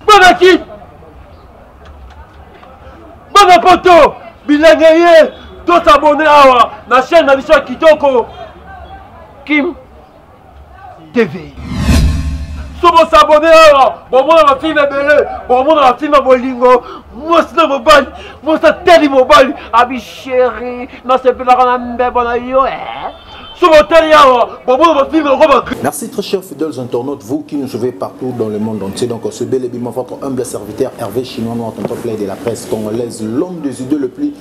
Bonaki Bana poto bilenge ye tosabone awa na chaîne na biso ya kitoko Kim TV. somo sabone awa bomona bafilme ebele bomona bafilme ya bolingo mwasi na mobali mwasi ateli mobali abi sheri nasepelaka na mbebo na yo eh? Merci très chers fidèles internautes, vous qui nous suivez partout dans le monde entier. Donc, ce bel et votre humble serviteur Hervé Chinois Noir, tonton de la presse congolaise, l'homme des idées le plus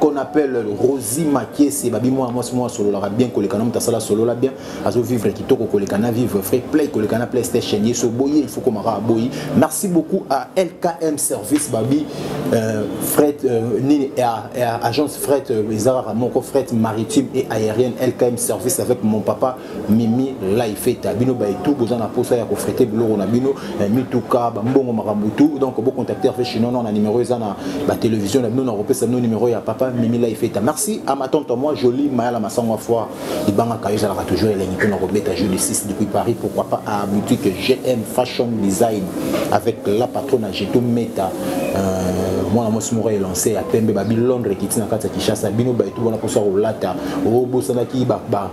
qu'on appelle Rosie Makiese babi moi moi moi sololaka bien koleka na mutasala solola bien azo vivre kitoko koleka na vivre vrai play koleka na PlayStation yeso boye il faut komaka boyi merci beaucoup à LKM service babi euh, fret euh, nini à, à, agence fret euh, ezara moko fret maritime et aérienne LKM service avec mon papa mimi laifeta bino baitu boza na mposa ya kofrete biloko na bino eh, mituka bambongo makambo tu donc bocontacte rve chinois na numero eza na batelevizio na bino na kopesa bino numero ya papa mimi laifeta merci à ma tante moi jolie mayala masango ya foi libangaka yo ezalaka toujours elengi mpo na kobeta jeu de 6 depuis paris pourquoi pas à boutique gm fashion design avec la patrona jeto meta euh, mwana mwasi moko elance ya pembe babi londres ekiti na kati ya kinshasa bino baitu wana mposa kolata obosanaki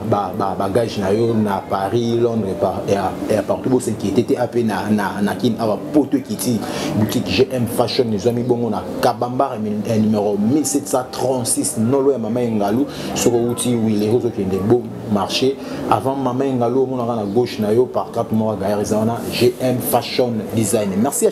ba ba bagage na yo na Paris Londres par et à, et à partout bo s'inquiéter te ape na na na kin awa poto kiti boutique GM Fashion ezwami bongo na Kabamba eh, numéro 1736 nolo ya mama Engalu soko uti wile ozo kende bo marché avant mama Engalu omonaka na gauche na yo par carte mora gaillard eza wana GM Fashion Design merci à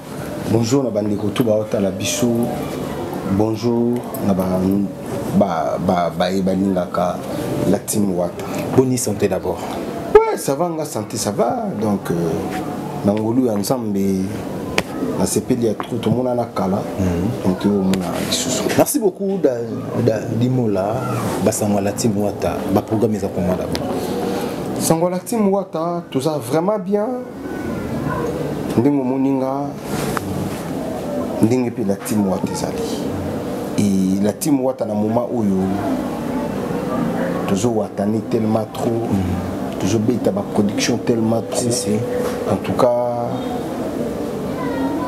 Bonjour na bandeko tout baotala biso bonjour na ba ba ba baye balingaka la team wata boni santé d'abord ouais ça va nga santé ça va donc euh, na ngolu ya nzambe nasepeli ya trop tomonana kala mhm. donc omona lisusu merci beaucoup da, da limola basango ya la team wata baprogramme eza komona d'abord sango ya la team wata toza vraiment bien ndenge omoni nga ndenge mpe la team wata ezali e la team wata na moma oyo tozowatane tellement trop mm. tozobeta baproduction tellement trop si, si. en tout cas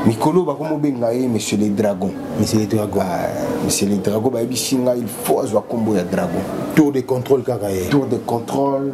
mikolo bakomobenga ye monsieur le dragon monsieur le dragon ah, monsieur le dragon bayebisi ngai il faut azwa nkombo ya dragon tour de contrôle kaka ye tour de contrôle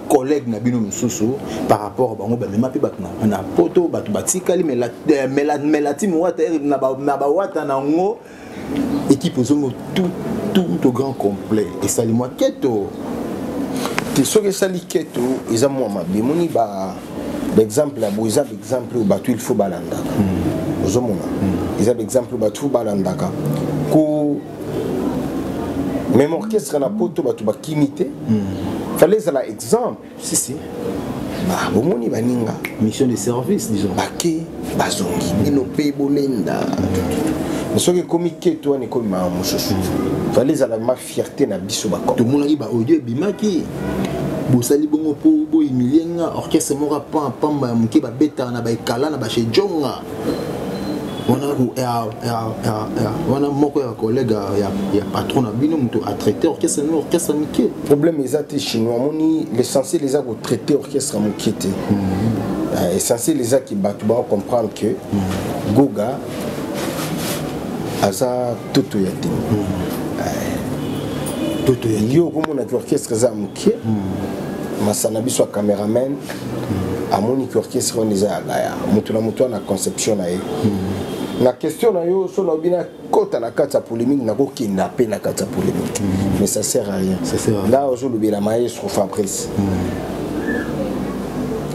collègue na bino mosusu par rapport bango bamema mpe bato na poto bato batikali melati mowata na bawata na yango équipe ozongo tout au grand complet esali mwa keto te soki esali keto eza mwa mabe emoni baexemple ya boye eza baexemple oyo bato il faut balandaka hmm. ozomona hmm. eza baexemple oyo bato faut balandaka ko même orchestre na poto bato bakimi te hmm. fallait ezala exemple si, si. bomoni baninga mission de service disons bake bazongi bino mpe bolenda soki ekomi keto wana ekomi mawa mosusu fallait ezala ma fierté na biso bakoma tomonaki baaudio ebimaki bosali bongo mpo bohumilie nga orchestre moko pamba ya moke babetaka na baekala na bachejonga wana ya, ya, ya, ya, wana moko ya collègue ya, ya patron na bino moto atraite orchestre nini orchestre moke problème eza te chinois amoni l'essentiel eza kotraite orchestre moke te mm -hmm. uh, essentiel eza ki bato bako comprendre que mm -hmm. goga aza toto ya te toto ya yo okomona ki orchestre eza moke hmm. masana biso ya cameraman hmm. amoni ki orchestre wana eza ya laya moto na moto wana conception na ye hmm. na question na yo so naobi nakota na kati ya polémique nakokenda mpe na kati ya polémique mais ça sert à rien là ozolobela maestro fabrice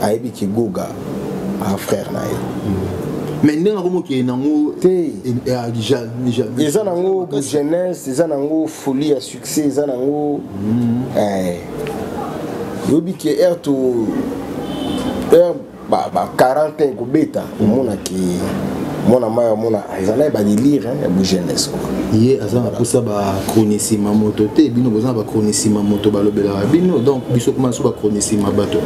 ayebi kigoga ah frère na ye mais ndenge yango mokili nango te eza nango bogenese eza nango folie ya succès eza nango mm. eh. yobi ke aire to aire ba 40 ans ekobeta omonaki mwana mai amona eza na ye badelire ya bogenese ye aza na mposa bachronisima moto te bino boza na bachronisima moto balobelaka bino donc biso kuma biso bachronisima bato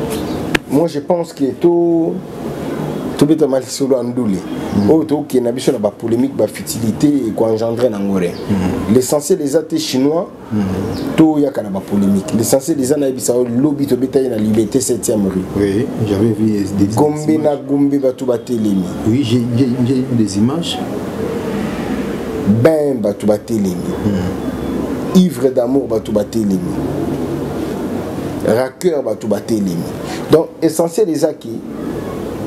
moi je pense que to tobetama lisolo ya ndule mm. oyo tokokende na biso na bapolémique bafutilité ekoengendre nango re mm. l'essentiel eza te chinois mm. toyaka na bapolémique l'essentiel eza nayebisa oyo lobi tobetaki na liberté 7e rue gombe na gombe bato batelemi ben bato batelemi ivre d'amour bato batelemi raqueur bato batelemi donc essentiel eza ki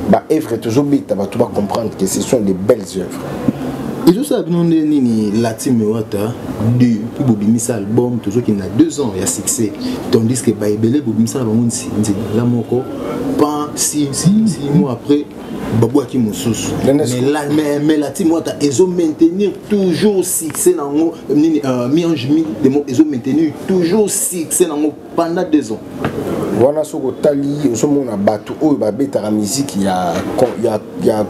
baœuvre tozobeta bato bacomprendre que ce sont des belles œuvres ezosala bino nde nini lati mewata du mpo bobimisa album tozokende na deux ans ya succès tandis que baebele bobimisaka bango nzinzi la moko pan si si si mois après babwaki mosusu melati mwata ezo maintenir toujours succès nango nini euh, miange mi demo ezo maintenir toujours succès nango pendant deux ans wana soki otali ozomona bato oyo babetaka miziki ya, ya, ya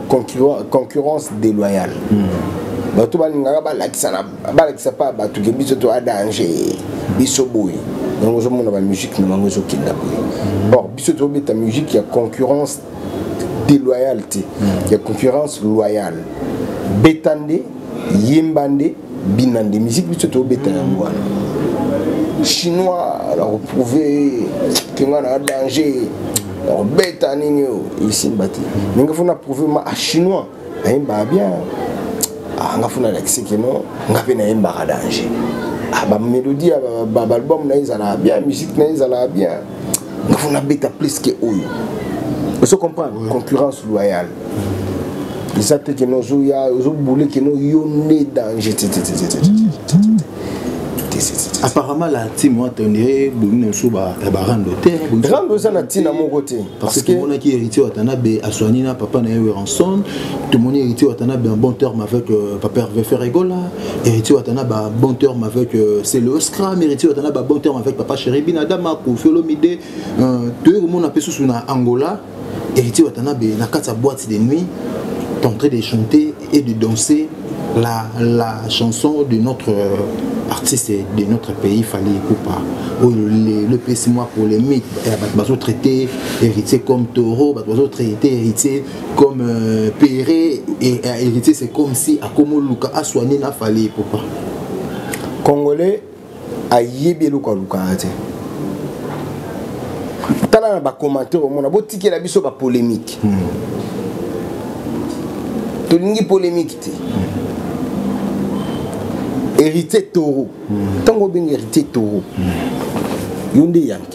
concurrence déloyale mm. bato balingaka balakisa balakisa mpa bato ke biso to adange biso boye yango ozomona bamusike na bango ezokenda boye hmm. or biso tobeta musike ya concurrence deloyale te hmm. ya concurrence loyale beta nde yemba nde bina nde miziki biso tobeta yango wana chinois nakoprouve kenga na danger nakobeta nini oyo esimba te ndenge fo na prouve ma ah, chinois nayembaka bien ah, nga funa alakisi kino nga mpe nayembaka danger ah, bamélodie ya baalbum na ye ezalaka bien musique na ye ezalaka bien nga funa abeta plus ke oyo ozo comprendre concurrence loyale eza te kino ozoya ozobule kino yo nde danger apparemment la ntime wata ondire bomi na biso ya barando te rando eza na ntina moko te parce que tomonaki héritier watanabe aswani na papa na ye weranson tomoni héritier watanabe en bon terme avec euh, papa herve ferregola héritier watanabe en bon terme avec euh, celo scram héritier watanabe en bon terme avec papa cheribi na dama kofi olomide euh, toyei komona mpe susu na angola héritier watanabe na kati ya boîte de nuit tentre de chanter et de danser la, la chanson de notre euh, artiste de notre pays Fally Ipupa oyo oh, l'EPC moi polémique eh, bato bazotraite héritier comme taureau bato bazotraite héritier comme euh, pere et euh, héritier c'est comme si akomoluka aswani na Fally Ipupa congolais ayebi eloko alukaka te tala na bacommentaire omona botikela biso bapolémike hmm. tolingi polémike te héritier toro ntango hmm. obenga héritier toro hmm. yo nde yanke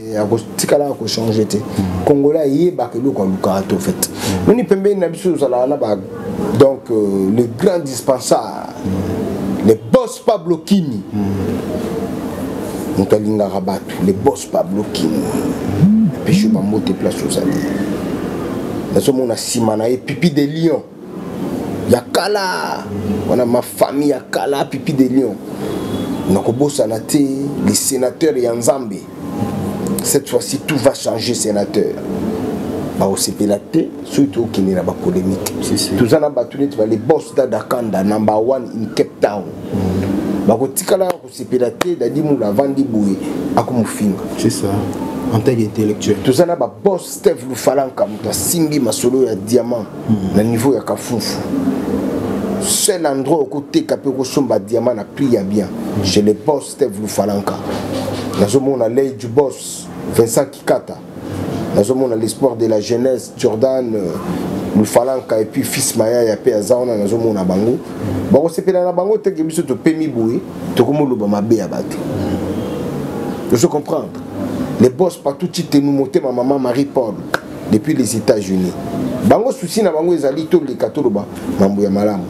eh, akotikala ya kochange te mm. congolais ayebaka eloko alukaka te ofait mm. noni pembeni na biso ozalaka na ba donc euh, le grand dispensar mm. le boss pablo kimi moto alingaka bato le boss pablo kimi epeshi bambote place ozali nazomona nsima na ye pipi de lion ya kala wana mafami ya kala pipi de lion nakobosana te le sénateur ya nzambe cette fois-ci tout va changer sénateur bakosepela te soki tokende na bapolémike toza na bato neti bale bos dadakanda number one in cape town mm. bakotikala sepela te dadi mulu avandi boye akomofinga c'est ça en tant qu'intellectuel toza na baboss steve lufalanka moto asimbi masolo ya diamant hmm. na niveau ya kafufu seul endroit okoteka mpe okosomba diamant na prix ya bien hmm. chez le boss steve lufalanka nazomona ley du boss vincent kikata nazomona l'espoir de la jeunesse jordan euh, lufalanka epuis fils mayaya mpe aza wana nazomona bango bakosepela na bango teke biso topemi boye tokomoloba mabe ya bato ozo comprendre les boss partout titenu motema mama marie paul depuis les états-unis bango susi na bango ezali toleka toloba mambo ya malamu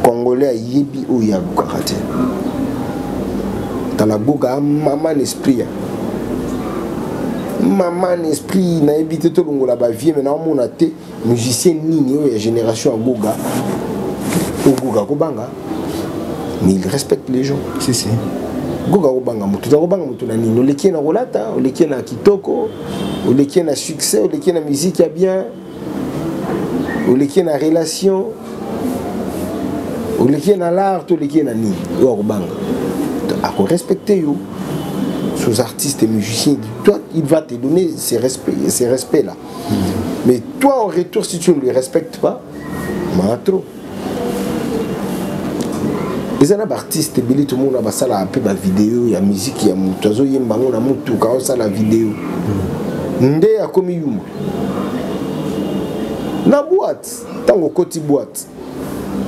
congolais ayebi oyo ya lukaka te tala goga maman esprit ya maman esprit nayebi te tolongola bavie me naomona te musicien nini oyo ya génération ya goga ogoga kobanga mais il respecte les gens si, si. goga kobanga motu oza kobanga motu na nini oleki ye na kolata oleki ye na kitoko oleki ye na succès oleki ye na miziki ya bien oleki na relation oleki na l'art oleki na nini yo akobanga akorespecte yo sous artiste et musicien toi il va te donner ces respects, ces respects là mais toi en retour si tu ne le respectes pas maatro eza na baartiste ebele tomona basalaka mpe bavideo ya miziki ya motu azoyemba yango na motuka osala video nde akomi yuma na boite ntango okoti boite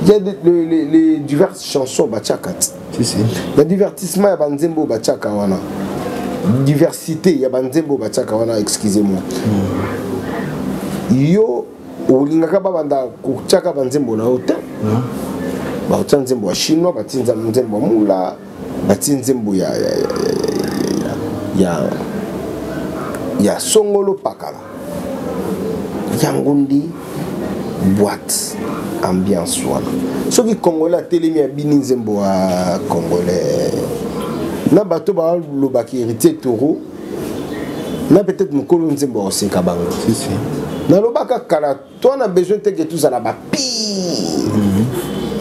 ya les diverses chansons batiaka ti na divertissement ya banzembo batiaka wana diversité ya banzembo batiaka wana excusez moi hmm. yo olingaka babanda kotyaka banzembo na yo te baotya nzembo ya chinois batie nzembo ya mula batie nzembo ya, ya, ya, ya, ya, ya, ya songolo pakala yango nde boite ambiance wana soki congolais atelemi abini nzembo ya congolais na bato balobaki héritier toro na peut-être mokolo nzembo ya koseka bango nalobaka kala toi na besoin te ke tozala bapire mhm.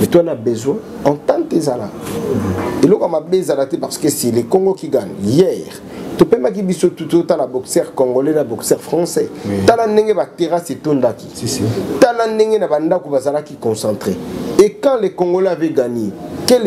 mais toi na besoin entente ezala mhm. eloko ya mabe ezala te parce que si le congo qui gagne hier topemaki biso tutu otala boxeur congolais na boxeur français tala ndenge baterrasse etondaki tala ndenge na bandako bazalaki concentré et quand le congolais avait gagné quel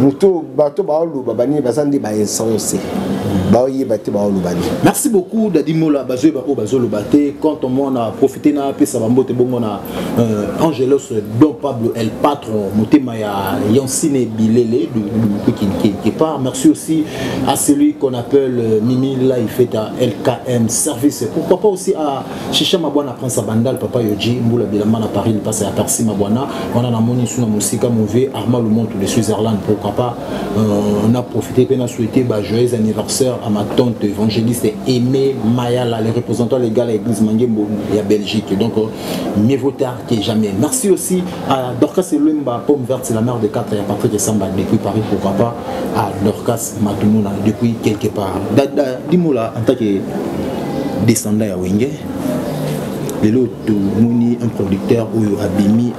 moto bato baoloba banini baza nde bainsense baoyeba te baoloba nini merci beaucoup dadimola bazoyeba oyo bazoloba te quand omona profite na apesa bambote bongo na euh, angelos don pablo el patron motema ya yansine bilele quelque part merci aussi à celui qu'on appelle euh, mimi laifeta lkm service pourquoi pas aussi à Shisha Mabwana Prince à Bandal, Papa Yoji, Mboula Bilamba na Paris, Lipasa ya Percy Mabwana, wana na moni suna musika mauvais, Arma Lumont de Switzerland, pourquoi pas, euh, on a profité qu'on a souhaité bah, joyeux anniversaire à ma tante évangéliste Aimée Mayala, les représentants légaux de l'église Mangembo, la Belgique, donc euh, mieux vaut tard que jamais. Merci aussi à Dorcas Eluemba, Pomme Verte, c'est la mère de 4 et à Patrick Samba depuis Paris, pourquoi pas, à Dorcas Matumuna depuis quelque part. Dis-moi là, en tant que descendant à Wenge, lelo tomoni un producteur oyo abimi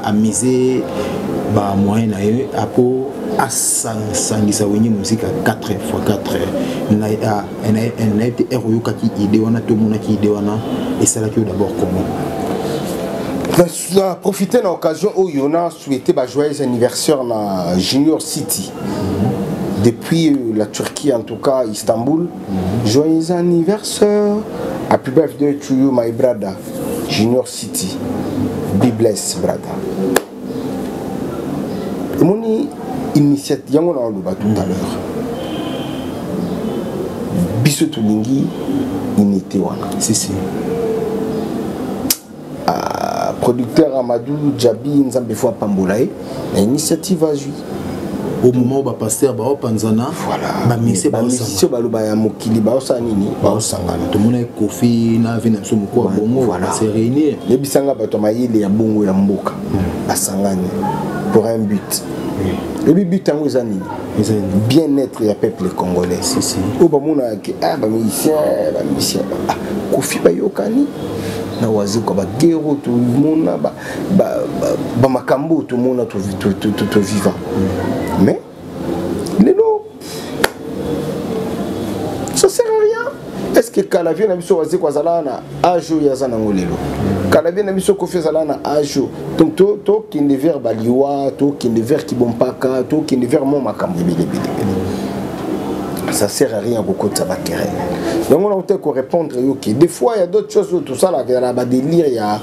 amise bamoyen na ye apo asangisa wenye mosika 4 x 4 na ye te ere oyokaki idée wana to omonaki idée wana esalaki yo d'abord comment na profite na occasion oyo na souhaite bajoyeux anniversaire na junior city depuis euh, la turquie en tout cas istanbul mm -hmm. joyeux anniversaire happy birthday to you my brother junior city be blessed brother omoni initiative yango naoloba tout à l'heure biso tolingi unité wana si, si. Ah, producteur amadou jabi nzambe fo apambola ye na initiative azwi au moment où ba pasteur ba opanzana voilà. ba mise ba musicien ba loba ya mokili ba osa nini ba osangana to mona kofi na vie na biso moko bongo voilà. se réunir les bisanga ba to mayele ya bongo ya mboka mm. asangani pour un but ebi but yango eza nini bien être ya peuple congolais oyo bamonaka ke a bamusicien bamusicien kofi bayokani na wazekwa bagero tomona bamakambo oyo tomona toviva mais lelo ça sert à rien est ce que kala vie na biso wazeko azalaka na age oyo aza nango lelo kala vie na biso kofi azalaka na age oyo donc tokende vers baliwa tokende vers kibompaka tokende vers mo makambo ebele ebelebele ça sert à rien kokotisa baterrain yango na kote korépondre yo ke des fois ya d'autres choses oyo tosalaka ya na badélire ya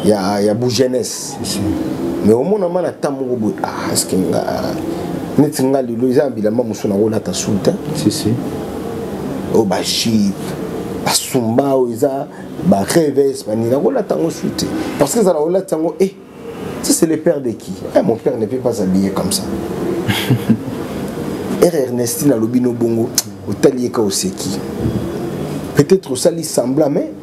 ya ya bu jeunesse mais omona ma na ntango moko boye ah eske nga neti nga lelo eza na bilamba mosusu nakolata sulta oyo bajipe basumba oyo eza bareves bani nakolata yango su te parce que ezala kolata yango e eh, si c'est le père de qui eh, mon père ne peut pas habiller comme ça r ernestine alobi no bongo otali ye ka oseki peut-être osali sembla mais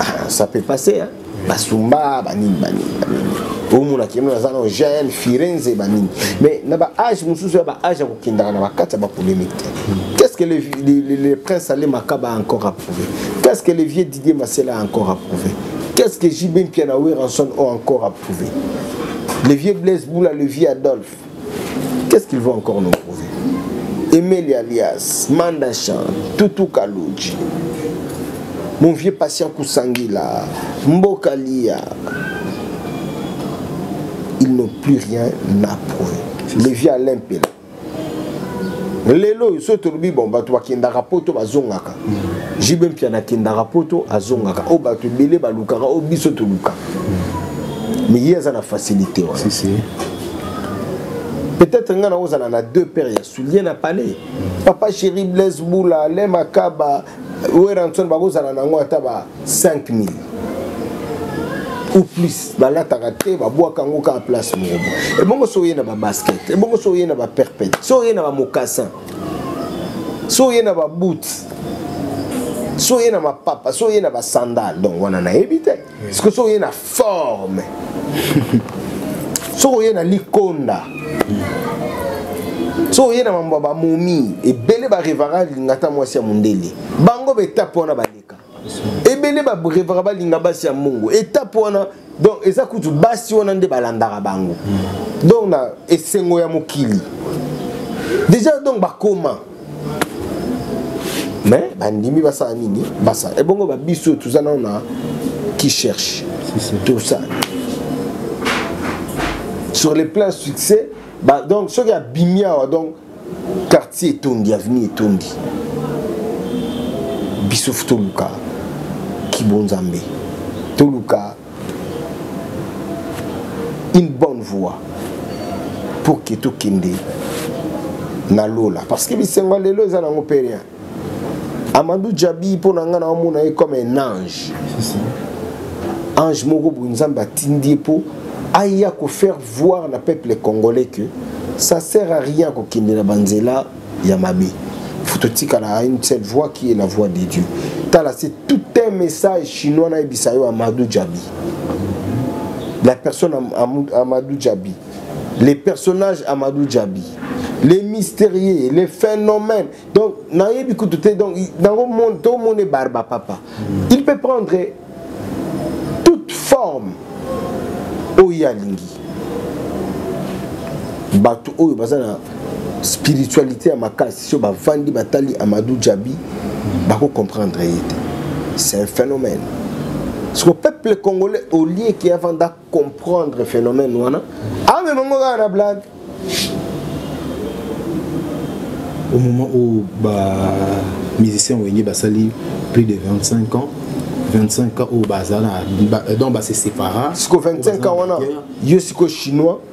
ah, ça peut passer hein basumba banini banini banini omona kino naza na gn firenze banini mais na baage mosusu ya baage ya kokendaka na bakati ya bapolémique te qu'est ce que le, le, le, le prince ale makaba a encore approuvé qu'est ce que le vieux didier masela a encore approuvé qu'est ce que jb mpiana weranson ont encore approuvé le vieux blaise boula le vieux adolphe qu'est-ce qu'il veut encore nous prouver emeli alias mandachan tutu kaluji mon vieux patient kusangila mboka liya ils n'ont plus rien à prouver le vieux alain mpela lelo oyo soki tolobi bon bato bakendaka poto bazongaka JB Mpiana akendaka poto azongaka oyo bato ebele balukaka oyo biso toluka mais ye aza na facilité wana si, si. peut-être ngai nakozala na deux paires ya soulier na palais papa chéri blaise bula le makaba weranson bakozala na yango ata ba 5000 ou plus balataka te babwaka yango kaka place moko ebongo so oye na babasket ebongo so oye na baperpète so oye na bamokassin so oye na baboot so oye na mapapa so oye na basandale donc wana nayebi te siko so oye na forme soki oye na likonda soki oye na mambo ya bamomi ebele barevara lingata mwasi ya mondele bango betape wana bale ebele barevaka balinga basi ya mongo etape wana donc eza kutu basi wana nde balandaka bango hmm. donc na esengo ya mokili déjà donc bakoma mais bandimi basala nini basala ebongo babiso toza nao na qui cherche tosala sur le plan succès donc soki abimi awa donc quartier etondi avenue etondi biso toluka kibonzambe toluka une bonne voie pour ke tokende na lola parce que bisengo ya lelo eza nango mpe rien Amadou Djabi mpo na ngai na omona ye comme un ange ange moko boye nzambe atindi ye mpo aya kofaire voir na peuple congolais que ça sert à rien kokende na banzela ya mabe faut totikala à une seule voix qui est la voix de dieu tala c'est tout un message chinois nayebisa yo amadou djabi la personne amadou djabi les personnages amadou djabi les mystérieux les phénomènes donc nayebi kutu te donc nango monde tomone barba papa mm. il peut prendre toute forme oyo alingi bato oyo baza na spiritualité ya makasi so bavandi batali amadou djabi bakocomprendre ye te c'est un phénomène siko peuple congolais olie ke avanda comprendre phénomène wana amema ah, ngo kaka na blague au moment où ba musicien wenge basali plus de 25 ans 25 ans oyo bazala donc base sépara siko 25 ans wana yo siko chinois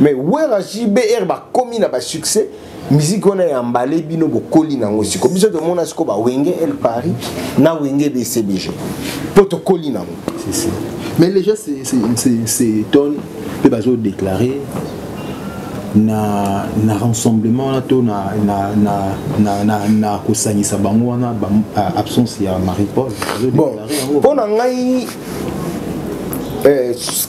mais wera jbr bakomi na basuccès miziki wana ya mbale bino bokoli na yango siko biso tomona siko bawenge el paris na wenge bcbg mpo tokoli na yango mais les gens s'étonne mpe bazodeklare na, na rassemblement wana to na, na, na, na, na, na kosangisa bango wana ba, absence ya marie paul bon mpo na ngai eh,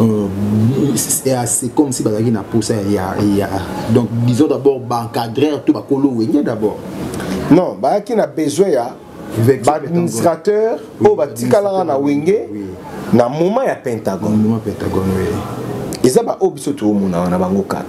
Euh, c'est comme si bazalaki na posa ya donc disons d'abord baencadrer to bakolo wenge d'abord non bayaki na besoin ya baadministrateur oyo batikalaka na wenge na moment ya pentagone eza baoyo biso toomona wana bango 4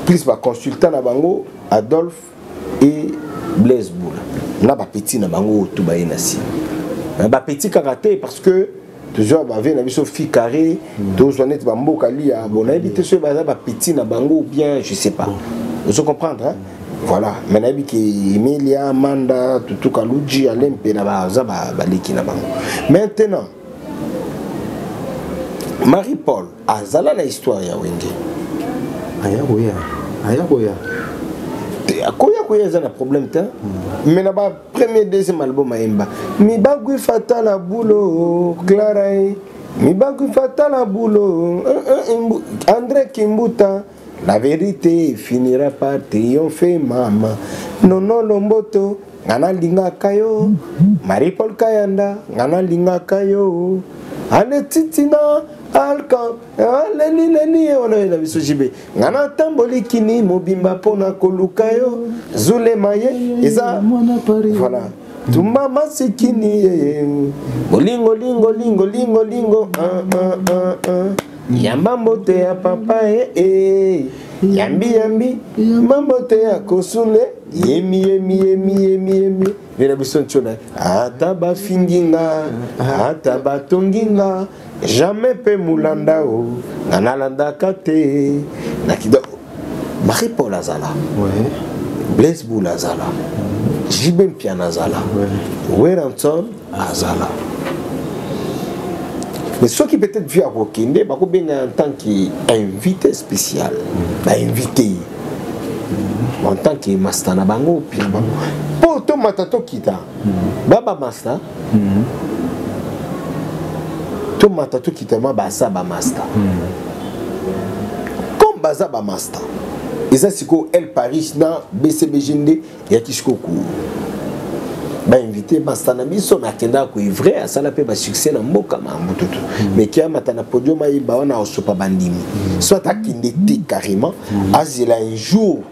plus baconsultant na bango adolphe et blaise boula na bapetit na bango oyo to baye na nsima bapetit kaka te parce que tozwa bavie na biso fi carré mm. tozwa neti bamboka lia bon nayebi te soki baza bapitit na bango bien je sais pas ozo comprendre hein? voilà mais nayebi ke emilia manda tutuka luji ale mpe na baza baleki na bango maintenant marie paul azala na histoire ya wenge aya koya aya koya akoya koya eza na problème te mm. mais na premier deuxième album ayemba mibagwi fatala bulo clara e mibagwi fatala bulo andré kimbuta la vérité finira par triomphe mama nono lomboto nga nalingaka yo marie paul kayanda nga nalingaka yo ale titina alka Ah, leli leli ye wana oyela biso jibe nga natamboli kini mobimba mpo na koluka yo zulema ye eza voilà tumba masikini ye bolingo lingo lingo lingo lingo ah, ah, ah, ah. yamba mbote ya papa ye eh, eh. yambi yambi yamba mbote ya kosule yemi yemi yemi yemi yemi yela biso ntona ata bafingi nga ata batongi nga jamais mpe molanda o nga nalandaka te na kido marie paul azala blaise boul azala jibe mpiana azala weranson azala mais soki peut-être vie akokende bakobenga en tant qu'invité spécial bainvité ye en tant que masta na bango pire bango mpo tomata tokita baba masta mm. tomata tokita mwa baza bamasta mm. comme baza bamasta eza sikoyo el paris na bcbg nde eyaki sikoyo ko bainvite masta na biso me akendaka koevre asala mpe basuccès na mboka mambututu mm. me ke amata na podium ayemba wana aosopa bandimi mm. soit akende te carrément mm. azela un jour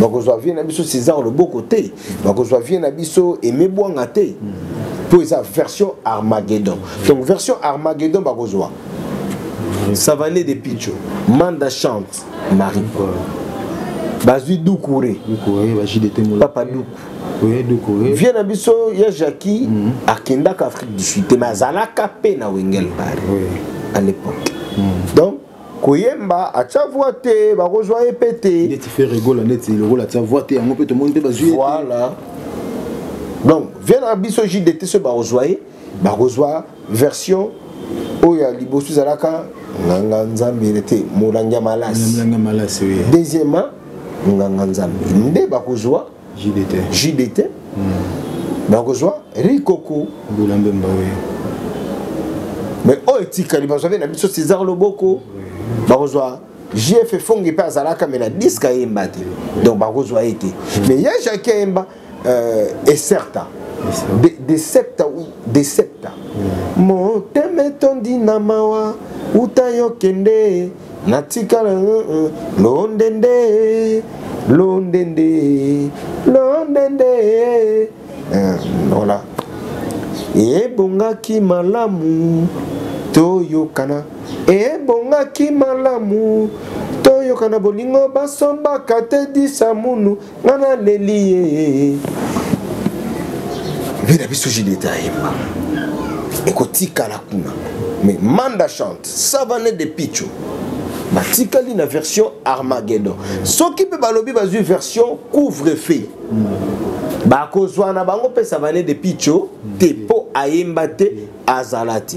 bakozwa vie na biso césar loboko te bakozwa vie na biso aime bwanga te mpo eza version armageddon donc version armageddon bakozwa savane de picho manda chante marie paul bazwi dukure papa duku vie na biso ya jacqui mhm. akendaka afrique du sud te mais azalaka mpe na wengel bare à l'époque mhm. donc koyemba atya voi te bakozwa ye mpe te neti fere egola neti lokola atya voi te yango mpe tomoni mpe bazwi voilà donc vie na biso jdt soki bakozwa ye bakozwa version oyo ya liboso ezalaka nganga nzambe te molangi ya malasi deuxièmement nganga nzambe nde bakozwa jdt jdt mm. bakozwa rikoko mbula mbemba oyo mais oyo etikali bazwa mpe na biso césar loboko bakozwa jf fongi mpe azalaka me na diske ayemba te donc bakozwa ye te mm. mais ya jacqui ayemba euh, ecerta de, de septa ou de septa mm. motema etondi na mawa uta yo kende natikala eh, eh, londende londende londende eh, voilà ebongaki malamu toyokana ebongaki malamu toyokana bolingo basombaka te disamunu nga naleli ye vie na biso julieta ayemba ekotikala kuna mais manda chante savane de picho batikali na version armageddon soki mpe balobi bazwi version couvre feu bakozwa na bango mpe savane de picho te mpo ayemba te azala te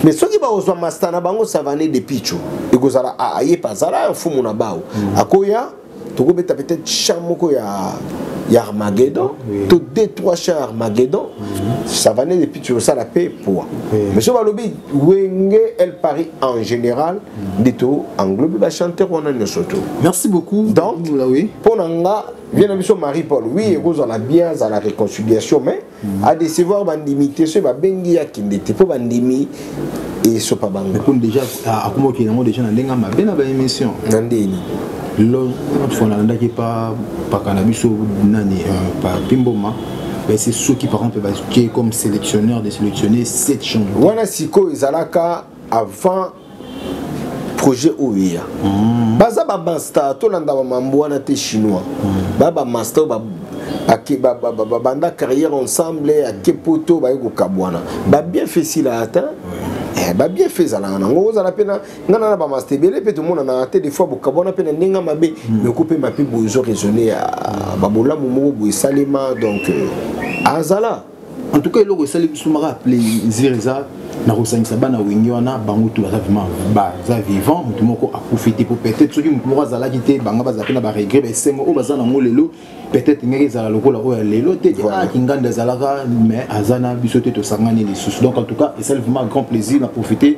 mais soki bakozwa masta na bango savane de picho ekozala ayepe azala ya mfumu na bao akoya tokobeta peut-être chant moko ya ya armageddon oui. to deux trois chants ya armageddon mm -hmm. savane depuis tosala mpe poa oui. mais so balobi wenge el paris en général mm. nde to englobe bachanteur wana nyonso to merci beaucoup donc mpo na nga vie na biso marie paul oui ekozala bien azala réconciliation mais a décevoir bandimi te soki babengi ya kende te mpo bandimi esopa bango ekoni déjà akoma okende yango déjà na ndenge ya mabe na baémission na ndeni lotfo nalandaki pa paka na biso nani euh, pa pimboma c'est soki par exemple batie comme sélectionneur de sélectionner 7 chambre wana sikoyo ezalaka avant projet oyo eya mm. baza bamasta tolanda bamambo wana te chinois mm. ba bamasta oyo babanda carrière ensemble ake poto baye kokabwana babien fait sila ata eh, babien fait ezalaka nango ozala mpe nga na bamasta ebele mpe tomonanaka te des fois bokabwana mpe na ndenge mabe mm. meko mpe mape bozo raisonne ya babolamu moko boesalema donc euh, azala en tout cas eloko esali biso maka plaisir eza na kosangisa bana wenge wana bango tu baza vraiment baza vivant motu moko akufi te po peut-être soki motu moko azalaki te banga bazala mpe na baregret baesengo oyo baza nango lelo peut-être ngaki ezala lokola oyo ya lelo te ah kinganda ezalaka mais aza na biso te tosangani lisusu donc en tout cas esali vraiment grand plaisir na profiter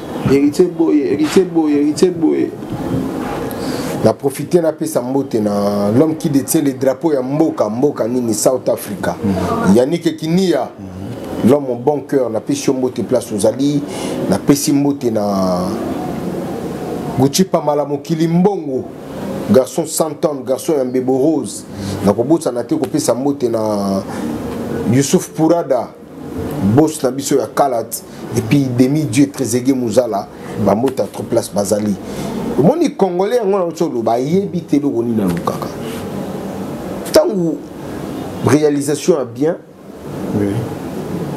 héritier boye héritier boye héritier boye na profite napesa mbote na l'homme qui détient le drapeau ya mboka mboka nini south africa mm. yanike kinia mm. l'homme au bon cœur napesi yo mbote place ozali napesi mbote na gucipa mala mokili mbongo garçon santon garçon ya mbebo rose nakobosana te kopesa mbote na yusuf purada boss na biso ya kalat et puis demi dieu trezegue muzala bamota trop place bazali omoni congolais yango na oso oloba ayebi te eloko nini alukaka ntango réalisation ya bien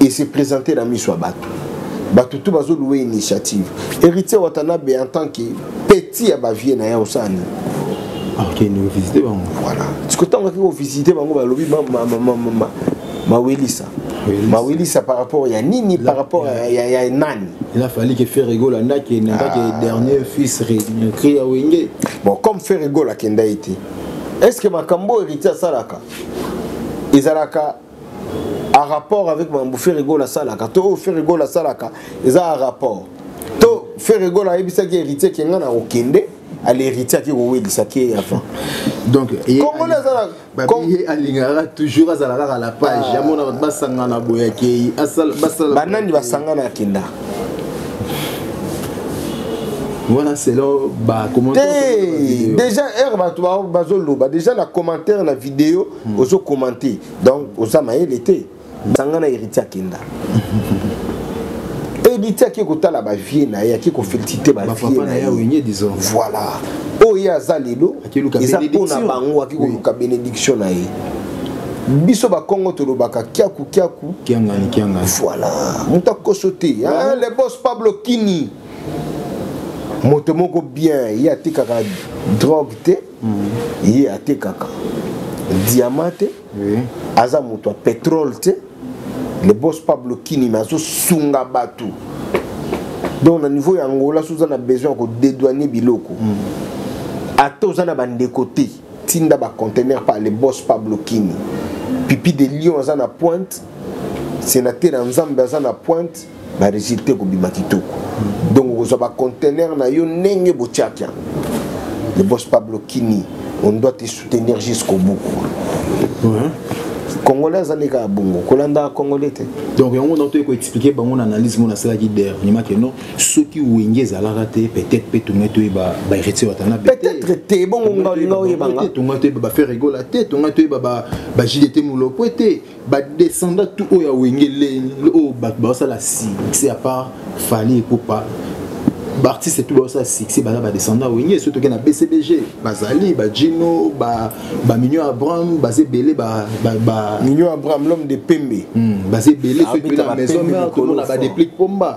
et se présenter na miso ya bato bato tu bazoluwa initiative héritier watanabe en tant que petit ya bavie na ye osala nini akende ah, kovisite bango voilà sikoyo ntango akei kovisite bango balobi mawelisa mawelisa par rapport ya nini par rapport ya, ya nani il a fallu que ferre gola ndaki ndaki ah. dernier fils recréé ya wenge bon comme ferre gola kenda ite est ce que makambo héritier asalaka ezalaka a rapport avec makambo ferre gola asalaka to oyo ferre gola asalaka eza a rapport to ferre gola ayebisaki héritier kenga na kokende alhéritier ake kowelisa ke avant donc kongole azalaka babiye alingaka toujours azala kaka la page ah. amona bato basangana boye akei banani basangana akenda wana selon bacommentaire déjà heure bato bazoloba déjà na commentaire na video hmm. ozocommante donc oza mayele te sanga na héritier akenda héritier ake kotala bavie na ye ake kofelicite bavie na ye voilà oyo ye aza lelo eza mpo na bango ake koluka bénédiction na ye biso bakongo tolobaka kiaku kiaku kiangani kiangani voilà moto akoso te ah, le boss pablo kini moto moko bien ye atekaka drogue te mm. ye atekaka diama te oui. aza moto ya petrole te le boss pablo kinima azosunga bato donc na niveau ya angola so oza na besoin ya kodedouane biloko mm. ata oza na bandeko te tinda bacontener par le boss pablo kini pipi de lion aza na pointe sénateur ya nzambe aza na pointe ba résultat ekobima kitoko donc okozwa ba conteneur na yo ndenge botiaki yango le boss pablo kini on doit te soutenir jusqu'au bout congolais azali kaka bongo kolandaka congolais te donc yango na toyei koexplike bango na analyse mona asalaki dernièrement ke non soki wenge ezalaka te peut-être mpe tongai toyeba baheritier watana peut-être te bongo ngaolinga oyebanga tongai toyeba baferre egola te tongai toyeba bajide te molopwe te ba descendant tout oyo ya wenge leni oyo bato basala succès à part fali epupa baartiste tout basala succès baza ba descendant wenge soki toke na bcbg bazali bajino bamignon ba abraham baza ebele mignon abraham l'homme de pembe hmm, baza ebele soki na maison mère tomona badeplique pomba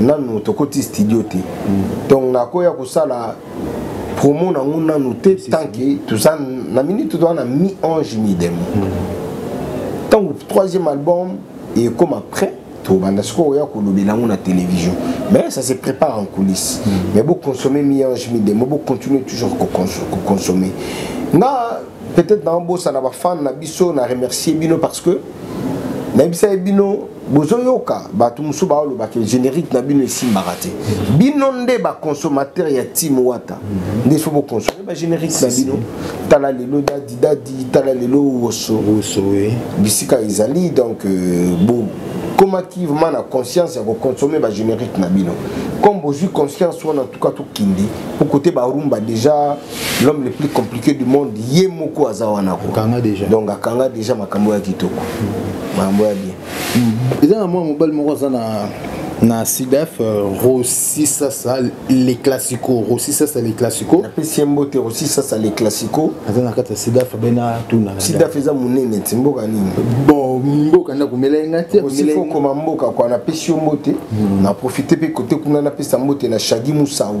nanu tokoti studio te donc nakoya kosala promo nango nanu te tant que toza na minute toza na mi ange mi demo ntango mm. troisième album ekoma prêt tobanda sikoyo oya kolobela yango na télévision mais ça se prépare en coulisse mm. mais boconsomme mi ange mi demo bocontinue toujours koconsomme nga peut-être naobosana bafane na biso na remercier bino parce que nayebisaki bino bozoyoka bato mosusu baoloba ke générique na bino esimbaka te bino nde baconsommateur ya tim wata nde so boconsome bagénérique na bino tala lelo dadi dadi tala lelo woso bisika ezali donc euh, bo ekomaki vraiment na conscience ya koconsomme bagénérique na bino comme bozwi conscience wana en tout cas tokindi mpo kote barumba déjà l'homme le plus compliqué du monde ye moko aza wana ko kanga déjà donc akanga déjà makambo ya kitoko makambo ya bien eza na mwa mobali moko aza na na sidef euh, rosi sasa le classico rosi sasa le classico napesi ye mbote rosi sasa le classico aza na kati ya sidef abena tuna sidef eza monene ti mboka nini bon mboka nda komela ye nga te okoma mboka kua napesi yo mbote hmm. na profite mpe kote kuna napesa mbote na shagi musau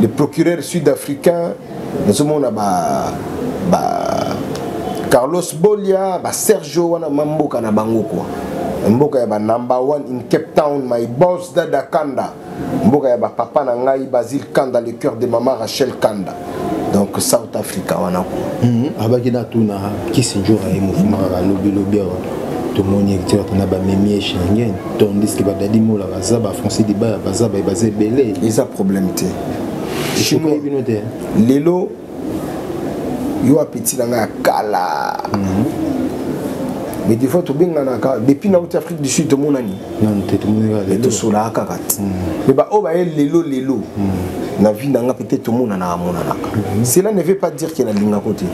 le procureur sud africain nazomona ba, ba carlos bolia ba sergio wana mamboka na bango kwa mboka ya ba number one in cape town my boss dada kanda mboka ya bapapa na ngai basile kanda le cœur de mama rachel kanda donc south africa wana ko mhm. abaki natuna kisinjora ye mouvement alobilobi awa tomoni ete wana bamemi ye shengen tandis que ba dadi mola baza ba français dibaya baza baye baza ebele eza problème te chinois bino te lelo yo apeti na ngai ya kala mhm. mais des fois tobenganaka depuis nauti afrique du sud tomonani tosolaka kaka te mhm. mais baoyo baye lelo lelo mhm. na vie na ngai peut-être tomonanaka amonanaka cela ne veut pas dire ke nalingako te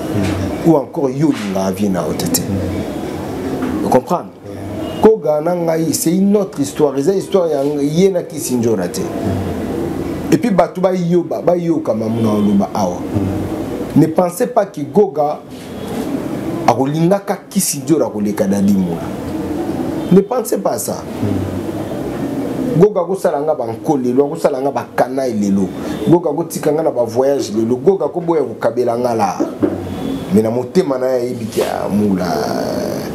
ou encore yo olingaka vie na yo te te comprendre koga na ngai c'est une autre histoire eza histoire ya ye na kisindjora te et puis bato bayoba bayoka mamuna oloba awa ne pensez pas que goga akolingaka kisindjora koleka dadi mula ne pensez pas ça goga akosala nga banko lelo akosala nga bakanai lelo goga akotika nga na bavoyage lelo goga akoboya kokabela nga laa mais na motema na ye ayebi ke amula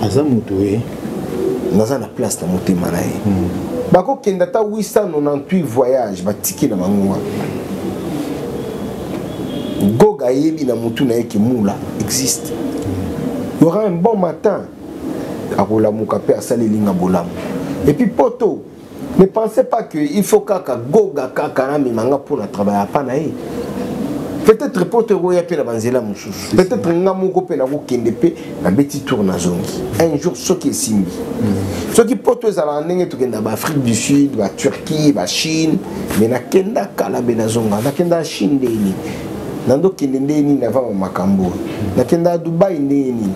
aza moto ye naza na place na motema na ye hmm. bakokenda ata 898 voyage batikela bango wana goga ayebi na motu na ye ke mula existe y aura un bon matin akolamuka mpe asali elinga bolamu epuis poto Ne pensez pas que il faut kaka goga kaka na mimanga pour na travailler pas na ye. Peut-être poto ekoya pe na banzela mosusu. Peut-être nga moko pe na ko kende pe na beti tour na zongi. Un jour soki esimbi. Mm. Soki poto ezala ndenge to kenda ba Afrique du Sud, ba Turquie, ba Chine, mais na kenda kala be na zonga, na kenda Chine ndeni. Na ndo kende ndeni na va makambo. Na kenda Dubai ndeni.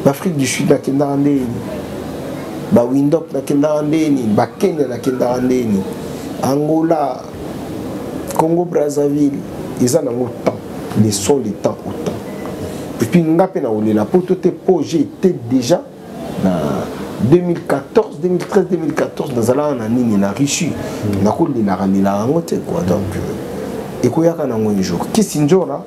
na afrique du sud nakendaka nde nini bawindop nakendaka nde nini bakenya nakendaka nde nini angola congo brazzaville eza nango temps le son le temps au temps epuis nga mpe nakolela poto te mpo je ete déjà na 2014 2013 2014 nazalaka na nini na russie nakolelaka lelaka yango te quoi donc euh, ekoyaka nango un jour kisinjora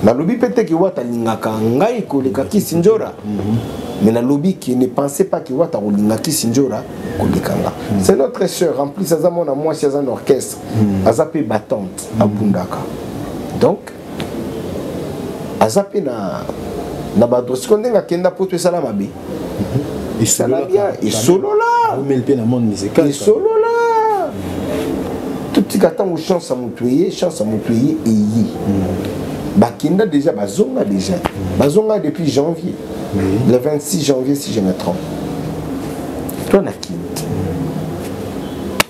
nalobi mpe te kiwata alingaka ngai koleka kisinjora mhm. mais nalobi ke ne pensez pas kiwata akolinga kisinjora koleka nga mhm. c'est notre sœur en plus aza mwana mwasi aza na orchestre mhm. aza mpe batante abundaka donc aza mpe na na badrosiko ndenge akenda poto esala mabe esala bien esolola esolola totika ntango chance ya moto eye chance ya moto eye eye hmm. bakenda déjà bazonga déjà hmm. bazonga depuis janvier le 26 janvier si je me trompe toi na kindi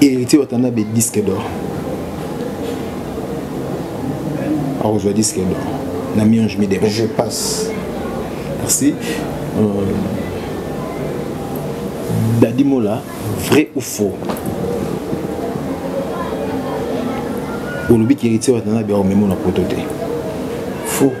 héritier watanabe disque d'or akozwa disque d'or na mionge midema je passe merci euh, dadi mola vrai ou faux olobi ki héritier watanabe akomema na poto te faux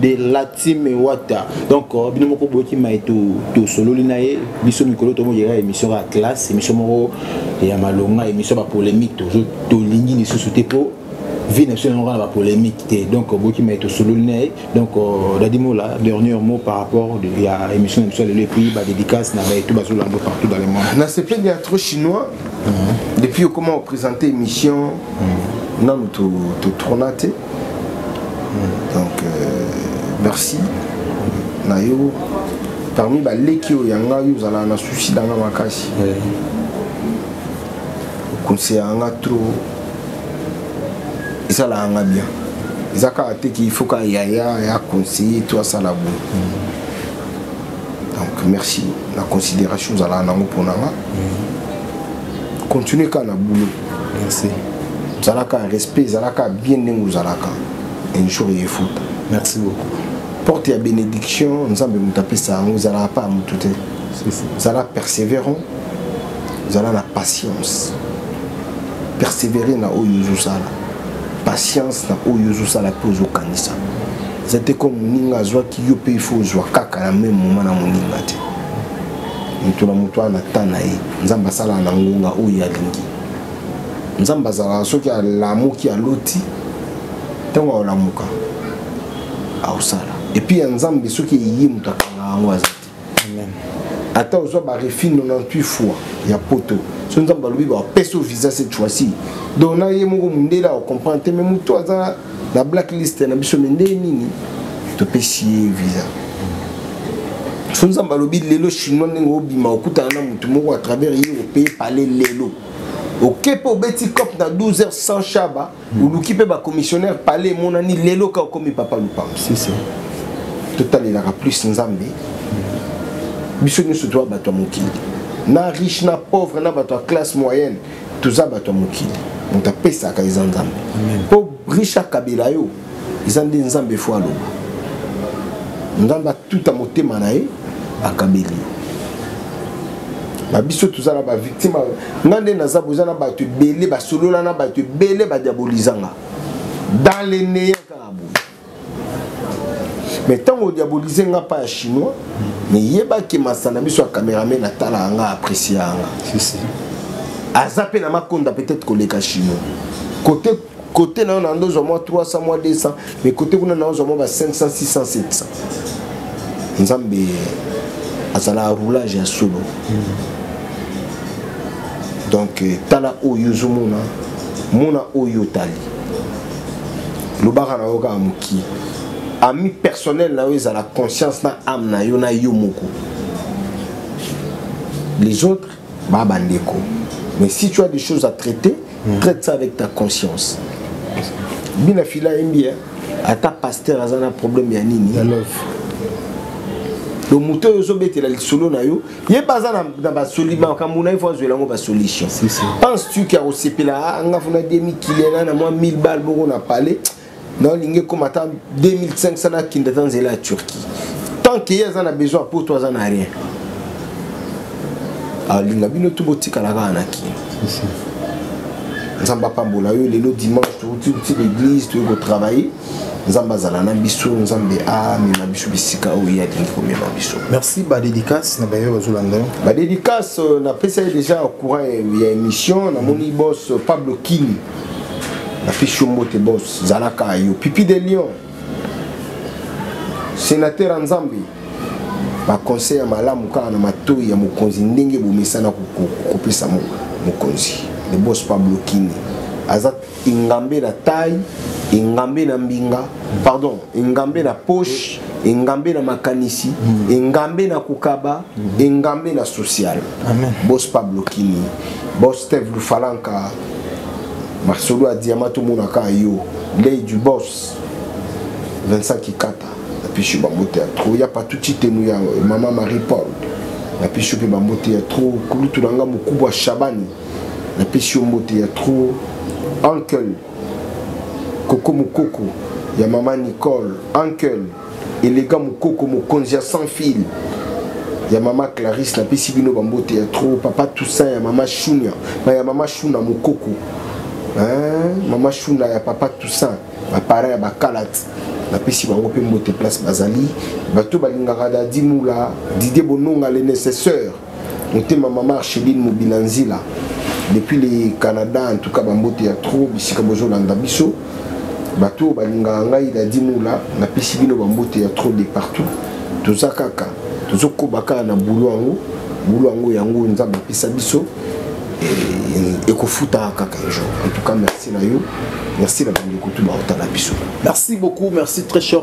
de la team wata donc euh, bino moko boyoki mai tosololi na ye biso mikolo tomoyela émission ya classe émission moko ya malonga émission ya bapolémique tolingi lisusu te mpo vie na biso yango na bapolémique te donc boyoki mai tosololi na ye donc euh, dadimola dernier mot par rapport ya émission na biso ya lelo epuis badédicace na baetu bazolanda partout dans le monde na sepeli ya trop chinois mhm. depuis okoma opresente émission mhm. nanu totrona te donc euh, merci na yo parmi baleki oyo ya ngai ozalaka na susi na nga makasi okonseyaka nga trop esalaka nga bien eza kaka te ki faut ka yaya ya conseiller to asala boye donc merci na considération ozalaka nango mpo na nga continue kaka na boulot merci zalaka respect zalaka bien ndenge ozalaka un jour eyefuta merci beaucoup porte ya bénédiction nzambe moto apesa yango ezalaka pa motu te zala persévérant zala na patience persévérer na oyo ozosala patience na oyo ozosala mpe ozokanisa eza te comme moninga azwaki yo mpe ifo ozwa kaka na meme moma na moninga te moto na moto wana na temps na ye nzambe asalaka na ngonga oyo alingi nzambe azalaka soki alamuki aloti ntango aolamuka akosala epuis ya nzambe soki eye moto akanga yango aza te ata ozwa barefi 98 fois ya poto so nzambe alobi bapesa visa cette fois-ci donc na ye moko mondele akokomprendre te mais moto aza na blacklist na biso me ndenge nini topesi ye visa so nzambe alobi lelo chinois ndenge obima okutana na motu moko à travers ye opeye pale lelo oke mpe obeti cop na 12 heures sans shaba hmm. oluki mpe bacommissionnaire pale emonani lelo ka okomi papa lupango totalelaka plus nzambe biso nyonso toya bato ya mokili na riche na pauvre na bato ya classe moyenne toza bato ya mokili moto apesaka eza nzambe mpo richard kabila yo eza nde nzambe fo aloba nzambe atuta motema na ye akabeli yo babiso toza na bavictime nga nde naza boza na bato ebele basolola na bato ebele badiabolizanga dans le néant mais ntango odiabolize nga mpa ya chinois meyebaki masana biso ya cameraman atalaka nga apprécie yanga aza mpe na makonda peut-être koleka chinois kote kote na yo na ndozo mwa 300 mwa 200 mais kote kuna na ozwa mwa ba 500 600 700 nzambe azalaka roulage ya solo donc euh, tala oyo ozomona mona oyo otali lobaka na yo kaka mokie ami personnel na yo ezala conscience na ame na yo na yo moko les autres ba bandeko mais si tu as des choses à traiter mm. traite ça avec ta conscience bina fila yembi eh? ata pasteur aza na problème ya nini donc moto oyo ozobetela lisolo na yo ye baza na basolima makambo na ye fo azwela yango basolution pense tu ke akosepela ah, nga fona 2000 kiliana na mwa 1000 bale moko na palais naolingi ekoma ata 2500 nakende ata nzela ya turquie tant ke ye aza na besoin po to aza na rien alinga ah, bino tu botikala kaka na kini nzambe apambola yo lelo dimanche touti uti l'église toyei kotravaille nzambe azala na biso nzambe amema biso bisika oyo ye alingi komema biso merci badédicace na baye bazolanda yo badédicace euh, napesa ye déjà courant ya émission namoni bos euh, pablo kini napesi yo mbote bos zalaka yo pipi de lion sénateur ya nzambe baconseil ya malamu kaka na matoi ya mokonzi ndenge bomesana kopesa mokonzi le bos pablo kini aza engambe na taille engambe na mbinga pardon engambe na poche engambe na makanisi mm. engambe na kokaba mm. engambe na social bos pablo kini bos steve lufalanka masolo ya diama tomonaka yo lei du bos vincent ikata napesi yo bambote ya tro ya patuti tenu ya mama marie paul napesi yo mpe bambote ya tro kulutu na nga mokubu ya shabani napesi yo mbote ya trop uncle koko mokoko ya mama nicole uncle elega mokoko mokonzi ya sans fil ya mama clarisse napesi bino bambote ya trop papa toussaint ya mama shunia ya mama shuna mokoko hein? mama shuna ya papa toussaint baparent ya bakalati napesi bango mpe mbote place bazali bato balingaka dadi mula didie bononga le nécessaire motema mama archeline mobila nzila depuis le canada en tout cas bambote ya trop bisika bozolanda biso bato oyo balingaka ngai dadi mola napesi bino bambote ya trop de partout toza kaka tozokoba kaka na bulo yango bulo yango yango nzambe apesa biso eh, ekofutaka kaka un jour en tout cas merci na yo merci na bandeko tu baotala biso merci beaucoup merci très cher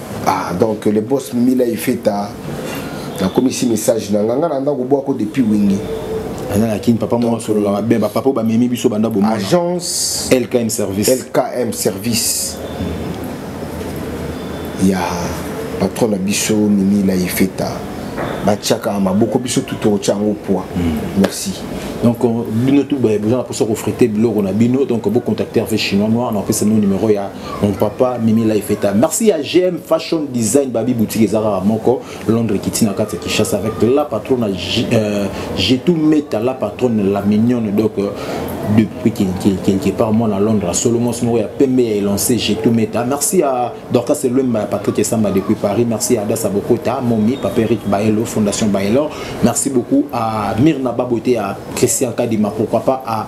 ah donc le boss mila ifeta nakomisi message na nga nga na ndako bwako depuis wingi aza na kini papa moko asololaka bien bapapa oyo bamemi biso banda bomona agence lkm service lkm service ya patron na biso mimi la ifeta batiaka maboko biso tu tokotya yango poids hmm. merci donc euh, bino tu boza na mposa kofrite biloko na bino donc bocontacte rv chinois noir na opesa bino numero ya mon papa mimi la efeta merci à gm fashion design babi boutique ezaka kaka moko londres ekiti na kati ya kishasa avec la patronne euh, jetou meta la patronne la mignonne donc euh, depuis quelque part moi na londres à solomon moko ya pembe ya elancé jetou meta merci à dorcas elwemba ya patrick esamba depuis paris merci à adasa bokota momi papa eric baelo fondation baelor merci beaucoup à mirna babote à christian kadima pourquoi pas à